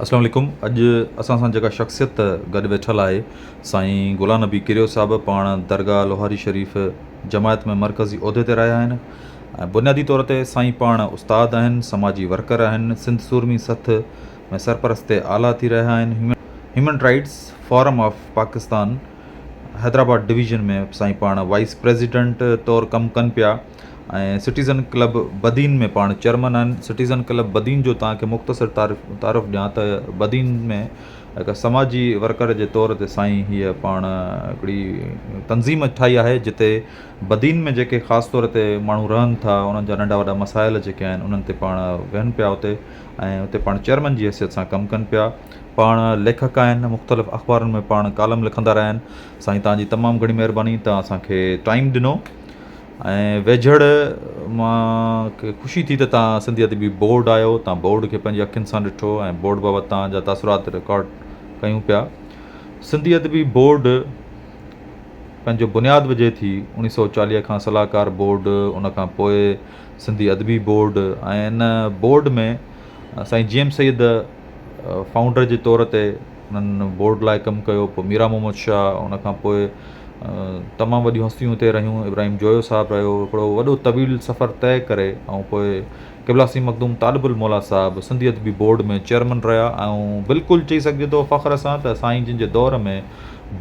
السلام عليڪم اڄ اسان سان جيڪا شخصيت گڏ ويٺل آهي سائين غلام نبي ڪريو صاحب پاڻ درگاهه لوهاري شريف جماعت ۾ مرڪزي عهدي تي رهيا آهن ۽ بنيادي طور تي سائين پاڻ استاد آهن سماجي ورڪر آهن سنڌ سورمي سٿ ۾ سرپرست اعليٰ ٿي رهيا آهن Human Rights Forum of Pakistan Hyderabad division ۾ سائين پاڻ وائيس پريزيڊنٽ طور ڪم ڪن پيا ۽ سٽيزن ڪلب بدين ۾ پاڻ چيئرمن آهن سٽيزن ڪلب بدين جو تانکي مختصر تعارف تعارف ڏيان ته بدين ۾ هڪ سماجي ورڪر جي طور تي سائين هيء پاڻ هڪڙي تنظيم ٺاهي آهي جتي بدين ۾ جيڪي خاص طور تي ماڻهو رهن ٿا انهن جا ننڍا وڏا مسائل جيڪي آهن انهن تي پاڻ ويهن پيا اتي ۽ اتي پاڻ چيئرمن جي حيثيت سان ڪم ڪن پيا پاڻ ليکڪ آهن مختلف اخبارن ۾ پاڻ ڪالم لکندا رهيا آهن سائين تانجي تمام گهڻي مهرباني تان اسانکي ٽائيم ڏنو ۽ ويجهڙ مان کي خوشي ٿي ته تان سنڌي ادبي بورڊ آيو تان بورڊ کي پنهنجي اکين سان ڏٺو ۽ بورڊ بابت تان جا تاثرات رڪارڊ ڪيون پيا سنڌي ادبي بورڊ پنهنجو بنياد وجهي ٿي اوڻيھ سئو چاليھ کان صلاحڪار بورڊ ان کان پوء سنڌي ادبي بورڊ ۽ ان بورڊ ۾ سائين جي ايم سيد فائونڊر جي طور تي انهن بورڊ لاء ڪم ڪيو پوء ميرا محمد شاهه ان کان پوء تمام وڏيون هستيون اتي رهيون ابراهيم جويو صاحب رهيو هڪڙو وڏو طويل سفر طئي ڪري ۽ پوء قبلا سيد مخدوم طالب الموليٰ صاحب سنڌي ادبي بورڊ ۾ چيئرمن رهيا ۽ بلڪل چئي سگهجي ٿو فخر سان ته سائين جن جي دور ۾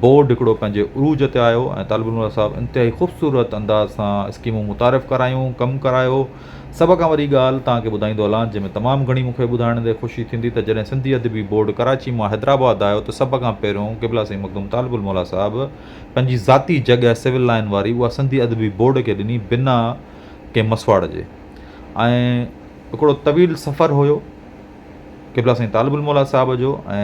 بورڊ هڪڙو پنهنجي عروج تي آيو ۽ طالب الموليٰ صاحب انتهائي خوبصورت انداز سان اسڪيمون متعارف ڪرايون ڪم ڪرايو سڀ کان وڏي ڳالهه توهان کي ٻڌائيندو هلان، جنهن ۾ تمام گهڻي مون کي ٻڌائڻ تي خوشي ٿيندي ته جڏهن سنڌي ادبي بورڊ ڪراچي مان حيدرآباد آيو ته سڀ کان پهريون قبلا سيد مخدوم طالب الموليٰ صاحب پنهنجي ذاتي جڳهه سول لائين واري اها سنڌي ادبي بورڊ کي ڏني بنا ڪنهن مسواڙ جي ۽ هڪڙو طويل سفر هيو قبلا سيد طالب الموليٰ صاحب جو ۽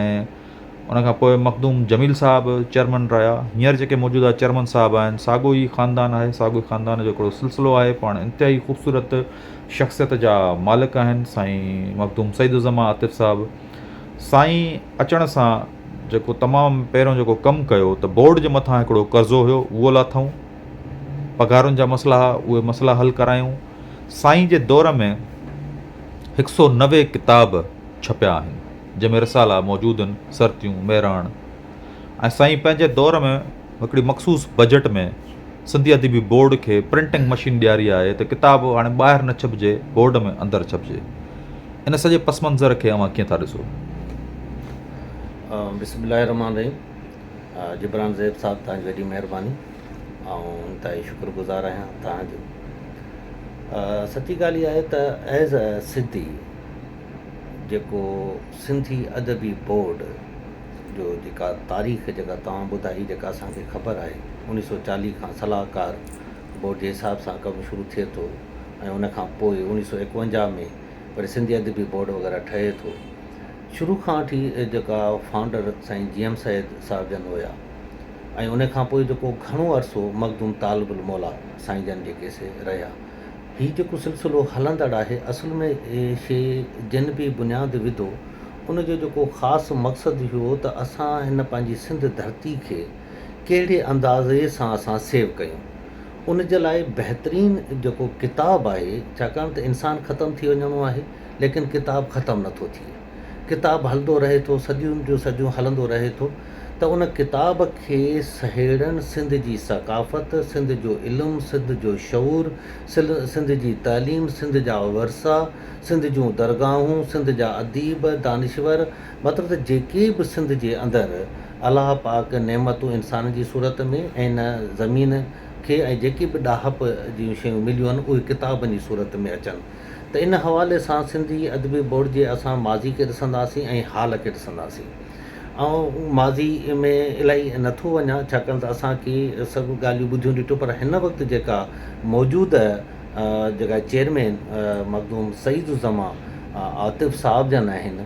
ان کان پوء مخدوم جميل صاحب چيئرمن رهيا هينئر جيڪي موجوده چيئرمن صاحب آهن ساڳو ئي خاندان آهي ساڳو ئي خاندان جو هڪڙو سلسلو آهي پاڻ انتهائي خوبصورت شخصيت جا مالڪ آهن سائين مخدوم سعيد الزمان عاطف صاحب سائين اچڻ سان جيڪو تمام پهريون جيڪو ڪم ڪيو ته بورڊ جي مٿان هڪڙو قرضو هيو اهو لاٿائون پگهارن جا مسئلا هئا اهي مسئلا حل ڪرايون سائين جي دور ۾ هڪ سو نوي ڪتاب ڇپيا آهن، جنهن ۾ رسالا موجودن، سرتيون، مهراڻ ۽ سائين پنهنجي دور ۾ هڪڙي مخصوص بجيٽ ۾ سنڌي ادبي بورڊ کي پرنٽنگ مشين ڏياري آهي ته ڪتاب هاڻي ٻاهر نه ڇپجي بورڊ ۾ اندر ڇپجي ان سڄي پس منظر کي اوهان ڪيئن ٿا ڏسو؟ بسم الله الرحمن الرحيم جبران زيب صاحب توهان جي وڏي مهرباني آئون انتهائي شڪر گذار آهيان توهان جو سچي ڳالهه اها آهي ته ايز اي سنڌي جيڪو سنڌي ادبي بورڊ جو جيڪا تاريخ جيڪا توهان ٻڌائي جيڪا اسانکي خبر آهي انيس سو چاليهه کان صلاحڪار بورڊ جي حساب سان ڪم شروع ٿئي ٿو ۽ ان کان پوء انيس سو ايڪونجاهه ۾ وري سنڌي ادبي بورڊ وغيره ٺهي ٿو شروع کان وٺي جيڪا فائونڊر سائين جي ايم سيد صاحب جن هيا ۽ ان کان پوء جيڪو گهڻو عرصو مخدوم طالب الموليٰ سائين جن جيڪي سي رهيا هي جيڪو سلسلو هلندڙ آهي اصل ۾ هي شيء جنھن به بنياد وڌو ان جو جيڪو خاص مقصد اهو هو ته اسان هن پنھنجي سنڌ ڌرتي کي ڪهڙي اندازي سان اسان سيو ڪيون ان جي لاء بهترين جيڪو ڪتاب آهي ڇاڪاڻ ته انسان ختم ٿي وڃڻو آهي ليڪن ڪتاب ختم نٿو ٿئي. ڪتاب هلندو رهي ٿو، صديون جون صديون هلندو رهي ٿو ته ان ڪتاب کي سهيڙڻ سنڌ جي ثقافت، سنڌ جو علم، سنڌ جو شعور، سنڌ جي تعليم، سنڌ جا ورثا، سنڌ جون درگاهون، سنڌ جا اديب، دانشور مطلب ته جيڪي به سنڌ جي اندر الله پاڪ نعمتون انسانن جي صورت ۾ ۽ ان زمين کي ۽ جيڪي به ڏاهپ جون شيون مليون آهن اهي ڪتابن جي صورت ۾ اچن ته ان حوالي سان سنڌي ادبي بورڊ جي اسان ماضي کي ڏسنداسين ۽ حال کي ڏسنداسين. آئون ماضي ۾ الائي نه ٿو وڃان ڇاڪاڻ ته اسان ڪي سڀ ڳالهيون ٻڌيون ڏٺيون پر هن وقت جيڪا موجود جيڪا چيئرمين مخدوم سعيد الزمان عاطف صاحب جن آهن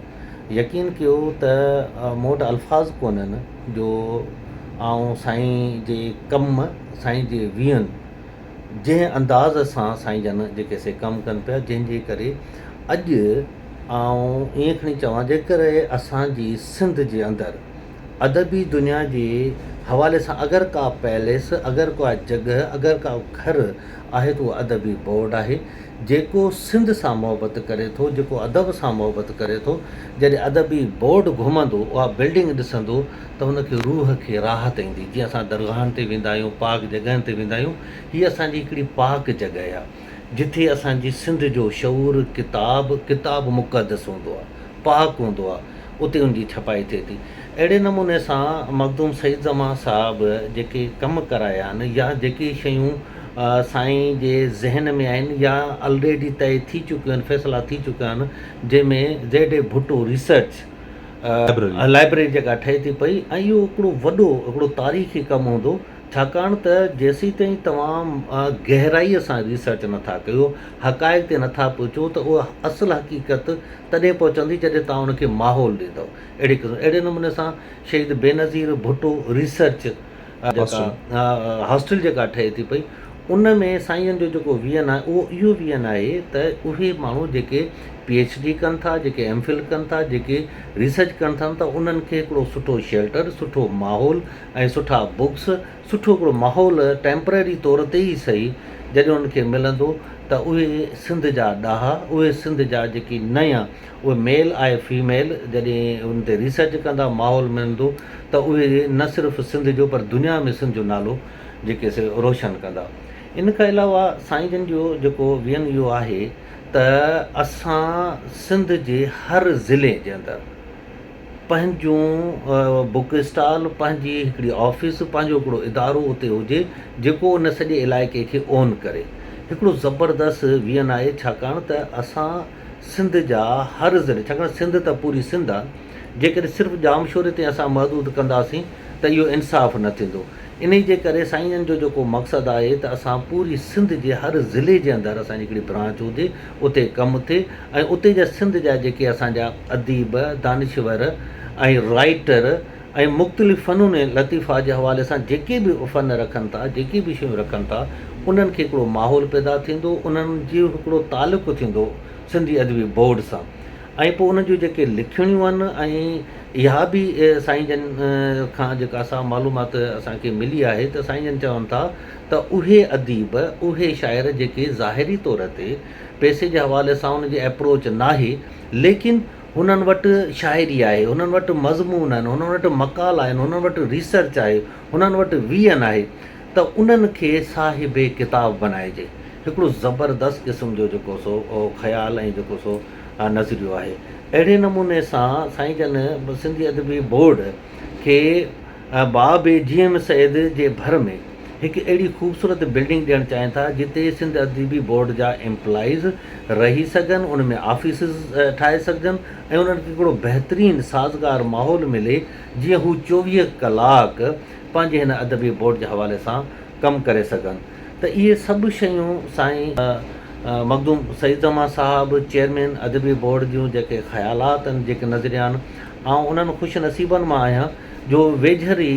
يقين ڪيو ته مون وٽ الفاظ ڪونهن جو آئون سائين جي ڪم سائين جي ويهن جنهن انداز سان سائين جن جيڪي سي ڪم ڪن پيا جنهن جي ڪري اڄ آئون ائين کڻي چوان جيڪر اسان جي سنڌ جي اندر ادبي دنيا جي حوالي سان اگر ڪا پئليس اگر ڪا جڳهه اگر ڪا گهر آهي ته اهو ادبي بورڊ آهي جيڪو سنڌ سان محبت ڪري ٿو جيڪو ادب سان محبت ڪري ٿو جڏهن ادبي بورڊ گهمندو اها بلڊنگ ڏسندو ته ان کي روح کي راحت ايندي جيئن اسان درگاهن تي ويندا آهيون پاڪ جڳهن تي ويندا آهيون هي اسان جي هڪڙي پاڪ جڳهه آ جتي اسان جي سنڌ جو شعور ڪتاب ڪتاب مقدس هوندو آ پاڪ هوندو آ اتي ان جي ڇپائي ٿئي ٿي اهڙي نموني سان مخدوم سعيد زمان صاحب جيڪي ڪم ڪرايا آهن يا جيڪي شيون سائين جي ذهن ۾ آهن يا الريڊي طئي ٿي چڪيون آهن فيصلا ٿي چڪا آهن جنهن ۾ Z A Bhutto research library جيڪا ٺهي ٿي پئي ۽ اهو هڪڙو وڏو هڪڙو تاريخي ڪم هوندو ڇاڪاڻ ته جيسيتائين توهان گهرائي سان ريسرچ نٿا ڪيو حقائق تي نٿا پهچو ته اها اصل حقيقت تڏهن پهچندي جڏهن توهان ان کي ماحول ڏيندو اهڙي قسم اهڙي نموني سان شهيد بينظير ڀٽو ريسرچ هاسٽل جيڪا ٺهي ٿي پئي ان ۾ سائين جو جيڪو ويزن آهي اهو اهو ويزن آهي ته اهي ماڻهو جيڪي پي ايڇ ڊي ڪن ٿا جيڪي ايم فل ڪن ٿا جيڪي ريسرچ ڪن ٿا ته انهن کي هڪڙو سٺو شيلٽر سٺو ماحول ۽ سٺا بڪس سٺو هڪڙو ماحول ٽيمپرري طور تي ئي سهي جڏهن انهن کي ملندو ته اهي سنڌ جا ڏاها اهي سنڌ جا جيڪي نيا اهي ميل آء فيميل جڏهن ان تي ريسرچ ڪندا ماحول ملندو ته اهي نه صرف سنڌ جو پر دنيا ۾ سنڌ جو نالو جيڪي سي روشن ڪندا ان کان علاوه سائين جن جو جيڪو وين اهو آهي ته اسان سنڌ جي هر ضلعي جي اندر پنهنجون بوڪ اسٽال پنهنجي هڪڙي آفيس پنهنجو هڪڙو ادارو اتي هجي جيڪو ان سڄي علائقي کي اون ڪري هڪڙو زبردست وين آهي ڇاڪاڻ ته اسان سنڌ جا هر ضلعي ڇاڪاڻ سنڌ ته پوري سنڌ آ جيڪڏهن صرف ڄامشوري تائين اسان محدود ڪنداسين ته اهو انصاف نه ٿيندو انهي جي ڪري سائين جو جيڪو مقصد آهي ته اسان پوري سنڌ جي هر ضلعي جي اندر اسان جي هڪڙي برانچ هجي اتي ڪم ٿئي ۽ اتي جا سنڌ جا جيڪي اسان جا اديب دانشور ۽ رائيٽر ۽ مختلف فنون لطيفه جي حوالي سان جيڪي به فن رکن ٿا، جيڪي به شيون رکن ٿا، انهن کي هڪڙو ماحول پيدا ٿيندو، انهن جو هڪڙو تعلق ٿيندو سنڌي ادبي بورڊ سان ۽ پوء انهن جون جيڪي لکڻيون آهن ۽ اها به سائين جن کان جيڪا سا معلومات اسان کي ملي آهي ته سائين جن چون ٿا ته اهي اديب، اهي شاعر جيڪي ظاهري طور تي پئسي جي حوالي سان ان جي اپروچ ناهي ليڪن. هنن وٽ شاعري آهي، هنن وٽ مضمون آهن، هنن وٽ مقالا آهن، هنن وٽ ريسرچ آهي، هنن وٽ ويئن آهي ته انهن کي صاحب ڪتاب بنائجي. هڪڙو زبردست قسم جو جيڪو سو خيال ۽ جيڪو سو نظريو آهي. اهڙي نموني سان سائين جن سنڌي ادبي بورڊ کي احباب جي ايم سيد جي ڀر ۾ هڪ اهڙي خوبصورت بلڊنگ ڏيڻ چاهين ٿا جتي سنڌ ادبي بورڊ جا ايمپلائيز رهي سگهن ان ۾ آفيسز ٺاهي سگهجن ۽ انهن کي هڪڙو بهترين سازگار ماحول ملي جيئن هو چوويهه ڪلاڪ پنهنجي هن ادبي بورڊ جي حوالي سان ڪم ڪري سگهن ته اهي سڀ شيون سائين مخدوم سعيد زمان صاحب چيئرمين ادبي بورڊ جون جيڪي خيالات آهن جيڪي نظريا آهن آئون انهن خوش نصيبن مان آهيان جو ويجهر ئي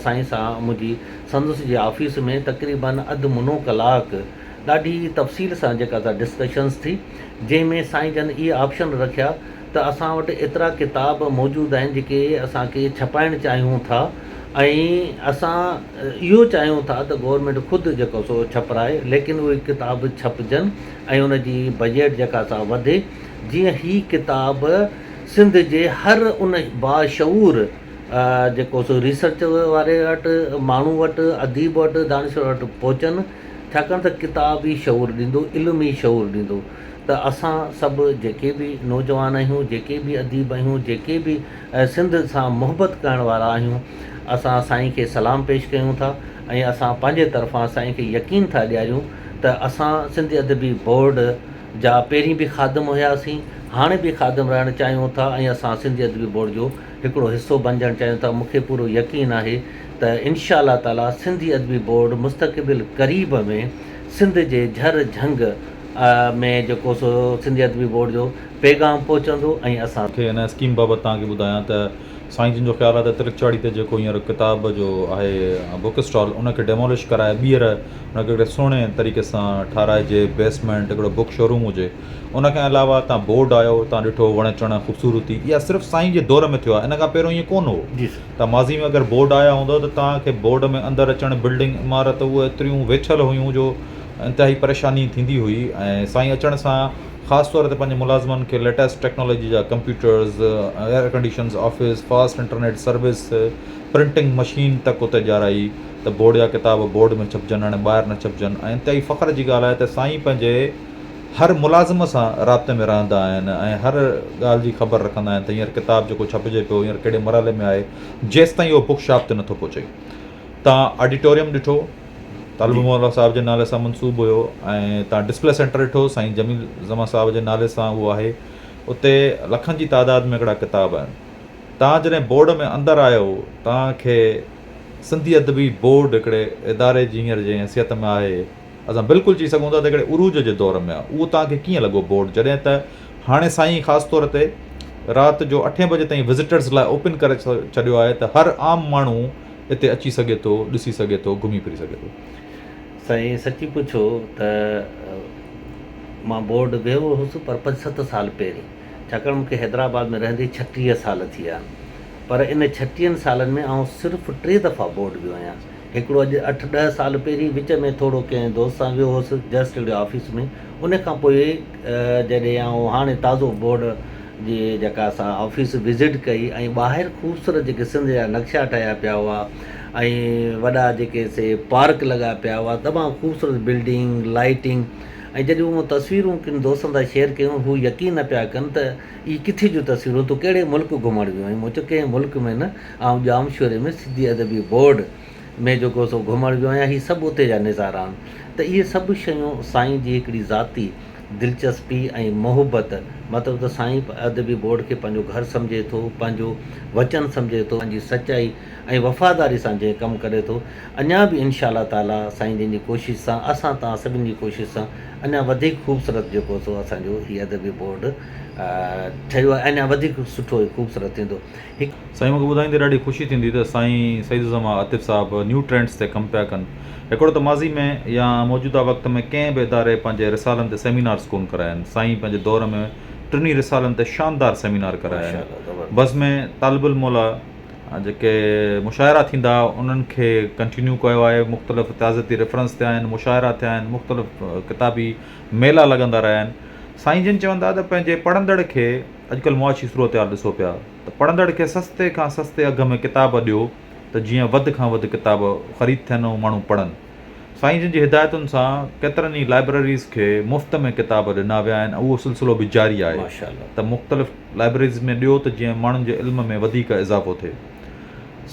سائين سان منهنجي سندس جي آفيس ۾ تقريباً اڌ منو ڪلاڪ ڏاڍي تفصيل سان جيڪا سا ڊسڪشنس ٿي جنهن ۾ سائين جن اهي آپشن رکيا ته اسان وٽ ايترا ڪتاب موجود آهن جيڪي اسان کي ڇپائڻ چاهيون ٿا ۽ اسان اهو چاهيون ٿا ته گورنمينٽ خود جيڪو سو ڇپرائي ليڪن اهي ڪتاب ڇپجن ۽ ان جي بجيٽ جيڪا سا وڌي جيئن هي ڪتاب سنڌ جي هر ان باشعور جيڪو سو ريسرچ واري وٽ ماڻهو وٽ اديب وٽ دانشور وٽ پهچن ڇاڪاڻ ته ڪتاب ئي شعور ڏيندو علم ئي شعور ڏيندو ته اسان سڀ جيڪي به نوجوان آهيون جيڪي به اديب آهيون جيڪي به سنڌ سان محبت ڪرڻ وارا آهيون اسان سائين کي سلام پيش ڪيون ٿا ۽ اسان پنهنجي طرفان سائين کي يقين ٿا ڏياريون ته اسان سنڌ ادبي بورڊ جا پهرين به خادم هياسين، هاڻي به خادم رهڻ چاهيون ٿا ۽ اسان سنڌي ادبي بورڊ جو هڪڙو حصو بنجڻ چاهيون ٿا، مون کي پورو يقين آهي ته انشاء الله تعاليٰ سنڌي ادبي بورڊ مستقبل قريب ۾ سنڌ جي جهر جهنگ ۾ جيڪو سو سنڌي ادبي بورڊ جو پيغام پهچندو ۽ اسان. کي ان اسڪيم بابت توهان کي ٻڌايان ته سائين جن جو خيال آهي ته ترڪچاڙي تي جيڪو هينئر ڪتاب جو آهي بوڪ اسٽال ان کي ڊيمولش ڪرائي ٻيهر ان کي هڪڙي سهڻي طريقي سان ٺاهرائجي بيسمينٽ هڪڙو بوڪ شوروم هجي ان کان علاوه اتان بورڊ آيو اتان ڏٺو وڻ چڻ خوبصورتي اها صرف سائين جي دور ۾ ٿيو آهي ان کان پهريون ائين ڪون هو جي سر ته ماضي ۾ اگر بورڊ آيا هوندا ته تان کي بورڊ ۾ اندر اچڻ بلڊنگ عمارت اهي ايتريون ويڇل هيون جو انتهائي پريشاني ٿيندي هئي ۽ سائين اچڻ سان خاص طور تي پنهنجي ملازمن کي ليٽيسٽ ٽيڪنالاجي جا computers, air conditions office, fast internet service, printing machine تڪ اتي ڏيارائي ته بورڊ جا ڪتاب بورڊ ۾ ڇپجن هاڻي ٻاهر نه ڇپجن ۽ انتهائي فخر جي ڳالهه آهي ته سائين پنهنجي هر ملازم سان رابطي ۾ رهندا آهن ۽ هر ڳالهه جي خبر رکندا آهن ته هينئر ڪتاب جيڪو ڇپجي پيو هينئر ڪهڙي مرحلي ۾ آهي جيستائين اهو بڪ شاپ تي نٿو پهچي تان آڊيٽوريم ڏٺو طالب مولا صاحب جي نالي سان منسوب هيو ۽ تان ڊسپلي سينٽر ڏٺو سائين جميل زمان صاحب جي نالي سان اهو آهي اتي لکن جي تعداد ۾ هڪڙا ڪتاب آهن تان جڏهن بورڊ ۾ اندر آيو تان کي سنڌي ادبي بورڊ هڪڙي اداري جي هينئر جي حيثيت ۾ آهي اسان بلڪل چئي سگهون ٿا ته هڪڙي عروج جي دور ۾ آهي اهو تان کي ڪيئن لڳو بورڊ جڏهن ته هاڻي سائين خاص طور تي رات جو اٺين بجي تائين وزيٽرز لاء اوپن ڪري ڇڏيو آهي ته هر عام ماڻهو اتي اچي سگهي ٿو، ڏسي سگهي ٿو، گهمي ڦري سگهي ٿو. سائين سچي پڇو ته مان بورڊ ويهو هوس پر پنج ست سال پهرين ڇاڪاڻ مون کي حيدرآباد ۾ رهندي ڇٽيهه سال ٿي ويا آهن پر ان ڇٽيهن سالن ۾ آئون صرف ٽي دفعا بورڊ ويو آهيان هڪڙو اڄ اٺ ڏهه سال پهرين وچ ۾ ٿورو ڪنهن دوست سان ويو هوس جسٽ هڪڙي آفيس ۾ ان کان پوء جڏهن آئون هاڻي تازو بورڊ جي جيڪا اسان آفيس وزٽ ڪئي ۽ ٻاهر خوبصورت جيڪي سنڌ جا نقشا ٺاهيا پيا هئا ۽ وڏا جيڪي سي پارڪ لڳا پيا هئا تمام خوبصورت بلڊنگ لائٽنگ ۽ جڏهن اهو تصويرون ڪن دوستن سان شيئر ڪيون هو يقين نه پيا ڪن ته اهي ڪٿي جون تصويرون تو ڪهڙي ملڪ گهمڻ ويو آهين مون چيو ڪنهن ملڪ ۾ نه آئون ڄامشوري ۾ سنڌي ادبي بورڊ ۾ جيڪو سو گهمڻ ويو آهيان هي سڀ اتي جا نظارا آهن ته اهي سڀ شيون سائين جي هڪڙي ذاتي دلچسپي ۽ محبت مطلب ته سائين ادبي بورڊ کي پنهنجو گهر سمجهي ٿو پنهنجو وچن سمجهي ٿو پنهنجي سچائي ۽ وفاداري سان جنهن ڪم ڪري ٿو اڃان به انشاء الله تعالي سائين جن جي ڪوشش سان اسان توهان سڀن جي ڪوشش سان اڃان وڌيڪ خوبصورت جيڪو سو اسان جو هي ادبي بورڊ ٺهيو آهي اڃان وڌيڪ سٺو ۽ خوبصورت ٿيندو. هڪ. سائين مونکي ٻڌائيندي ڏاڍي خوشي ٿيندي ته سائين سعيد الزمان عاطف صاحب نيو ٽرينڊز تي ڪم پيا ڪن. هڪڙو ته ماضي ۾ يا موجوده وقت ۾ ڪنهن به اداري پنهنجي رسالن تي سيمينارز ڪون ڪرايا آهن. سائين پنهنجي دور ۾ ٽنهي رسالن تي شاندار سيمينار ڪرايا آهن. بس ۾ طالب العلم لا جيڪي مشاعرا ٿيندا هئا انهن کي ڪنٽينيو ڪيو آهي. مختلف تعزيتي ريفرنس ٿيا آهن، مشاعرا ٿيا آهن، مختلف ڪتابي ميلا لڳندا رهيا آهن. سائين جن چوندا ته پنهنجي پڙهندڙ کي. اڄڪلهه معاشي صورتحال ڏسو پيا ته پڙهندڙ کي سستي کان سستي اگهه ۾ ڪتاب ڏيو ته جيئن وڌ کان وڌ ڪتاب خريد ٿين ۽ ماڻهو پڙهن. سائين جن جي هدايتن سان ڪيترن ئي لائبرريز کي مفت ۾ ڪتاب ڏنا ويا آهن ۽ اهو سلسلو به جاري آهي ته مختلف لائبرريز ۾ ڏيو ته جيئن ماڻهن جي علم ۾ وڌيڪ اضافو ٿئي.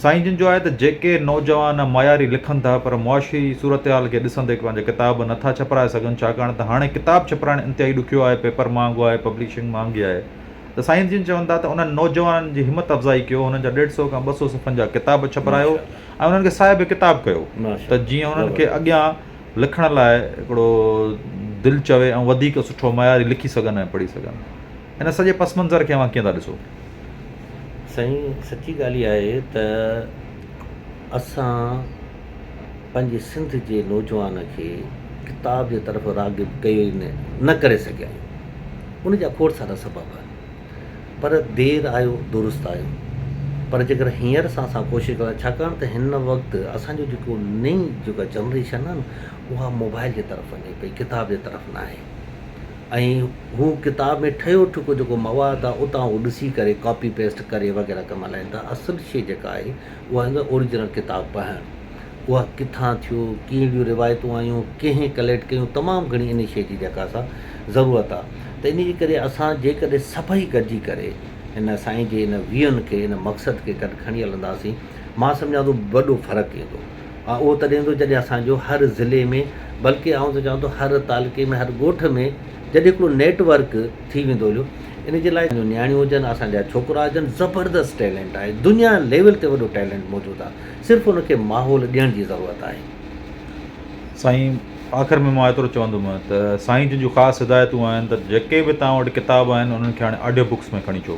سائين جن جو آهي ته جيڪي نوجوان معياري لکن ٿا پر معاشي صورتحال کي ڏسندي پنهنجا ڪتاب نه ٿا ڇپرائي سگهن ڇاڪاڻ ته هاڻي ڪتاب ڇپرائڻ انتهائي ڏکيو آهي پيپر مهانگو آهي پبلشنگ مهانگي آهي ته سائين جن چون ٿا ته انهن نوجوانن جي همت افزائي ڪيو هنن جا ڏيڍ سئو کان ٻه سئو صفحن جا ڪتاب ڇپرايو ۽ انهن کي صاحب ڪتاب ڪيو ته جيئن انهن کي اڳيان لکڻ لاء هڪڙو دل چوي ۽ وڌيڪ سٺو معياري لکي سگهن ۽ پڙهي سگهن. هن سڄي پس منظر کي اوهان ڪيئن ٿا ڏسو؟ سائين سچي ڳالهه اها آهي ته اسان پنهنجي سنڌ جي نوجوان کي ڪتاب جي طرف راغب ڪيو ئي نه نه ڪري سگهيا آهيون ان جا کوڙ سارا سبب آهن پر دير آيو درست آيو پر جيڪر هينئر سان اسان ڪوشش ڪريون ٿا ڇاڪاڻ ته هن وقت اسان جو جيڪو نئين جيڪا جنريشن آهي نه اها موبائل جي طرف وڃي پئي ڪتاب جي طرف ناهي ۽ هو ڪتاب ۾ ٺهيو ٺڪو جيڪو مواد آهي اتان هو ڏسي ڪري ڪاپي پيسٽ ڪري وغيره ڪم هلائين ٿا اصل شيء جيڪا آهي اها آهي ته اوريجنل ڪتاب پڙهڻ اها ڪٿان ٿيو ڪهڙيون روايتون آيون ڪنهن ڪليڪٽ ڪيون تمام گهڻي ان شيء جي جيڪا سا ضرورت آهي ته ان جي ڪري اسان جيڪڏهن سڀئي گڏجي ڪري ان سائين جي ان ويهن کي ان مقصد کي گڏ کڻي هلنداسين مان سمجهان ٿو وڏو فرق ايندو ها اهو تڏهن هوندو جڏهن اسان جو هر ضلعي ۾ بلڪه آئون ته چوان ٿو هر تعلقي ۾ هر ڳوٺ ۾ جڏهن هڪڙو نيٽ ورڪ ٿي ويندو جو ان جي لاء جو نياڻيون هجن اسان جا ڇوڪرا هجن زبردست ٽيلنٽ آهي دنيا ليول تي وڏو ٽيلنٽ موجود آهي صرف ان کي ماحول ڏيڻ جي ضرورت آهي. سائين آخر ۾ مان ايترو چوندم ته سائين جن جون خاص هدايتون آهن ته جيڪي به توهان وٽ ڪتاب آهن انهن کي هاڻي آڊيو بڪس ۾ کڻي اچو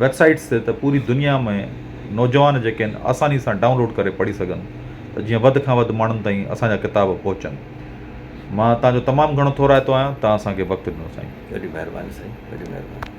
ويب سائيٽس تي ته پوري دنيا ۾ نوجوان جيڪي آهن آساني سان ڊائونلوڊ ڪري پڙهي سگهن ته جيئن وڌ کان وڌ ماڻهن تائين اسانجا ڪتاب پهچن مان تهانجو تمام گهڻو ٿورائتو آهيان تهان اسانکي وقت ڏنو سائين. وڏي مهرباني سائين وڏي مهرباني.